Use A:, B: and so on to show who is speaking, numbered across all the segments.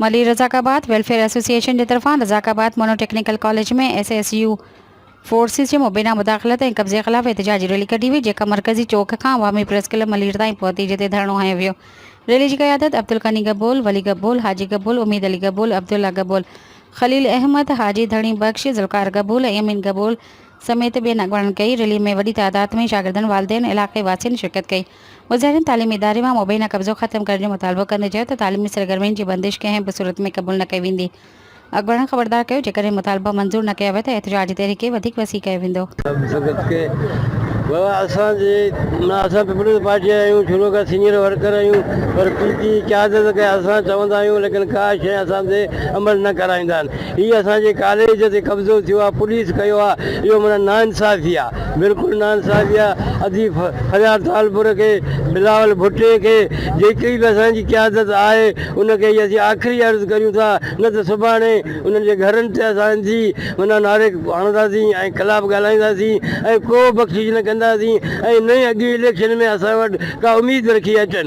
A: Malir Razzaq Abad welfare association جي طرفان Razzaq Abad mono technical college ۾ S S U forces جي مبينا مداخلت ۽ قبضي خلاف احتجاجي ريلي ڪڍي وئي جيڪا مرڪزي چوڪ کان عوامي پريس ڪلب ملير تائين پهتي جتي ڌرڻو هنيو ويو ريلي جي قيادت عبدالغني گبول ولي گبول حاجي گبول اميد علي گبول عبدالله گبول خليل احمد حاجي ڌڻي بخش ذوالقار گبول ۽ امين گبول سميت ٻين اڳواڻن ڪئي، ريلي ۾ وڏي تعداد ۾ شاگردن، والدين، علائقي واسين شرڪت ڪئي، مظاهرين تعليمي اداري مان مبينا قبضو ختم ڪرڻ جو مطالبو ڪندي چيو ته تعليمي سرگرمين جي بندش ڪنهن به صورت ۾ قبول نه ڪئي ويندي، اڳواڻن خبردار ڪيو جيڪڏهن مطالبا منظور نه ڪيا ويا ته احتجاجي تحريڪ کي وڌيڪ وسيع ڪيو
B: ويندو. هي اسان جي ڪاليج تي قبضو ٿيو آ پوليس ڪيو آ اهو معنيٰ ناانصافي آ بلڪل ناانصافي آ ادي فريار ٽالپر کي بلاول ڀٽي کي جيڪي به اسان جي قيادت آهي ان کي هي اسين آخري عرض ڪريون ٿا نه ته سڀاڻي انهن جي گهرن تي اسان جي معنيٰ نعري هڻنداسين ۽ خلاف ڳالهائينداسين ۽ ڪو بخشش نه ڪنداسين ۽ نه ئي اڳين اليڪشن ۾ اسان وٽ ڪا اميد رکي اچن.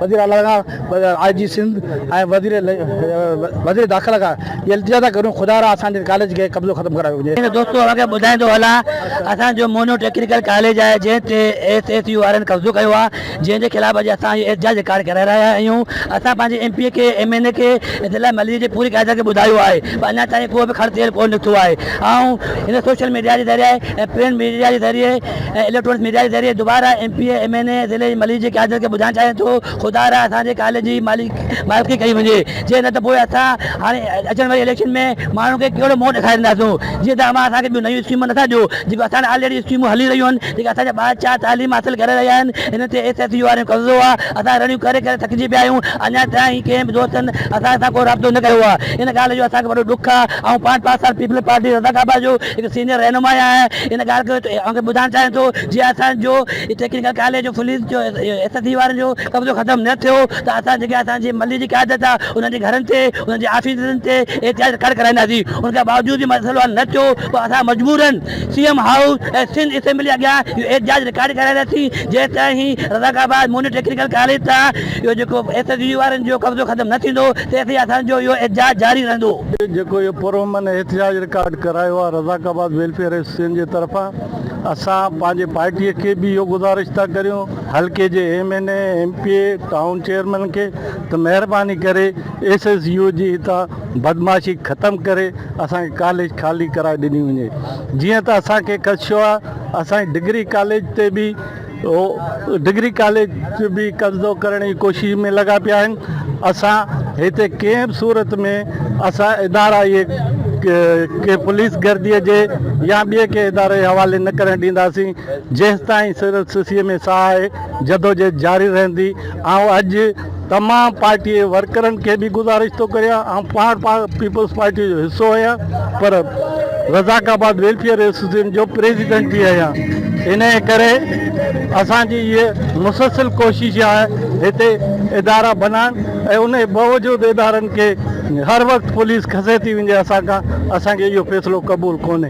C: وزير اعليٰ کان آء جي سنڌ ۽ وزير داخله کان اها التجا ٿا ڪريون خدا را اسان جي ڪاليج کي قبضو ختم ڪرايو وڃي. ۽ دوستو اوهان کي ٻڌائيندو
D: هلان اسان جو موهنو ٽيڪنيڪل ڪاليج آهي جنهن تي ايس ايس يو وارن قبضو ڪيو آهي جنهن جي خلاف اڄ اسان اهو احتجاج رڪارڊ ڪرائي رهيا آهيون اسان پنهنجي ايم پي کي ايم اين اي کي ضلع ملير جي پوري قيادت کي ٻڌايو آهي پر اڃا تائين ڪو به کڙ تيل ڪونه نڪتو آهي آئون هن سوشل ميڊيا جي ذريعي ۽ پرنٽ ميڊيا جي ذريعي ۽ اليڪٽرانڪس ميڊيا جي ذريعي دوباره M P A, M N A, ضلعي جي ملير جي قيادت کي ٻڌائڻ چاهيان ٿو خدا را اسان جي ڪاليج جي مالڪي ڪئي وڃي جي نه ته پوء اسان هاڻي اچڻ واري اليڪشن ۾ ماڻهن کي ڪهڙو منهن ڏيکارينداسون جي ته اوهان اسان کي ٻيون نيون اسڪيمون نٿا ڏيو جيڪو اسان وٽ آلريڊي اسڪيمون هلي رهيون آهن جيڪي اسان جا ٻار چار تعليم حاصل ڪري رهيا آهن انهن تي ايس ايس يو وارن جو قبضو آهي اسان رڙيون ڪري ڪري ٿڪجي پيا آهيون اڃا تائين ڪنهن به دوستن اسان سان ڪو رابطو نه ڪيو آهي ان ڳالهه جو اسان کي وڏو ڏک آهي آئون پاڻ پاڪستان پيپلز پارٽي رضاڪعبا جو هڪ سينئر رهنما آهي ان ڳالهه کي اوهان کي ٻڌائڻ چاهيان ٿو جي اسان جو ٽيڪنيڪل ڪاليج جو فليس جو ايس ايس سي وارن جو قبضو ختم نه ٿيو ته اسان جيڪي اسان جي محلي جي قيادت آهي انهن جي گهرن تي انهن جي آفيسن تي احتجاج رڪارڊ ڪرائينداسين ان کان باوجود به مسئلو حل نه ٿيو پوء اسان مجبورن C M house ۽ Sindh assembly اڳيان اهو احتجاج رڪارڊ ڪرائينداسين جيستائين هي رزاق آباد موني ٽيڪنيڪل ڪاليج تان جو جيڪو ايس ايس يو وارن جو قبضو ختم نه ٿيندو تيسين اسان جو اهو احتجاج جاري رهندو. جيڪو اهو پرامن
B: احتجاج رڪارڊ ڪرايو آهي رزاق آباد ويلفيئر ايسوسيئن جي طرفان اسان پنهنجي پارٽي کي به اهو گذارش ٿا ڪريون حلقي جي M N A M P A town chairman کي ته مهرباني ڪري ايس ايس يو جي هتان بدمعاشي ختم ڪري اسان کي ڪاليج خالي ڪرائي ڏني وڃي جيئن ته اسان کي خدشو آهي اسان جي ڊگري ڪاليج تي به هو ڊگري ڪاليج به قبضو ڪرڻ جي ڪوشش ۾ لڳا پيا آهن اسان هتي ڪنهن به صورت ۾ اسان ادارا اهي ڪنهن پوليس گردي جي يا ٻئي ڪنهن اداري جي حوالي نه ڪرڻ ڏينداسين جيستائين سنڌ سيء ۾ ساهه آهي جدوجهد جاري رهندي آئون اڄ ته مان پارٽيء جي ورڪرن کي به گذارش ٿو ڪريان آئون پاڻ پيپلز پارٽيء جو حصو آهيان پر رزاق آباد ويلفيئر ايسوسيئيشن جو پريزيڊنٽ به آهيان انهيء ڪري اسان جي هيء مسلسل ڪوشش آهي هتي ادارا بنائڻ ۽ انهيء باوجود ادارن کي هر وقت پوليس کسي ٿي وڃي اسان کان اسان کي اهو فيصلو قبول ڪونهي.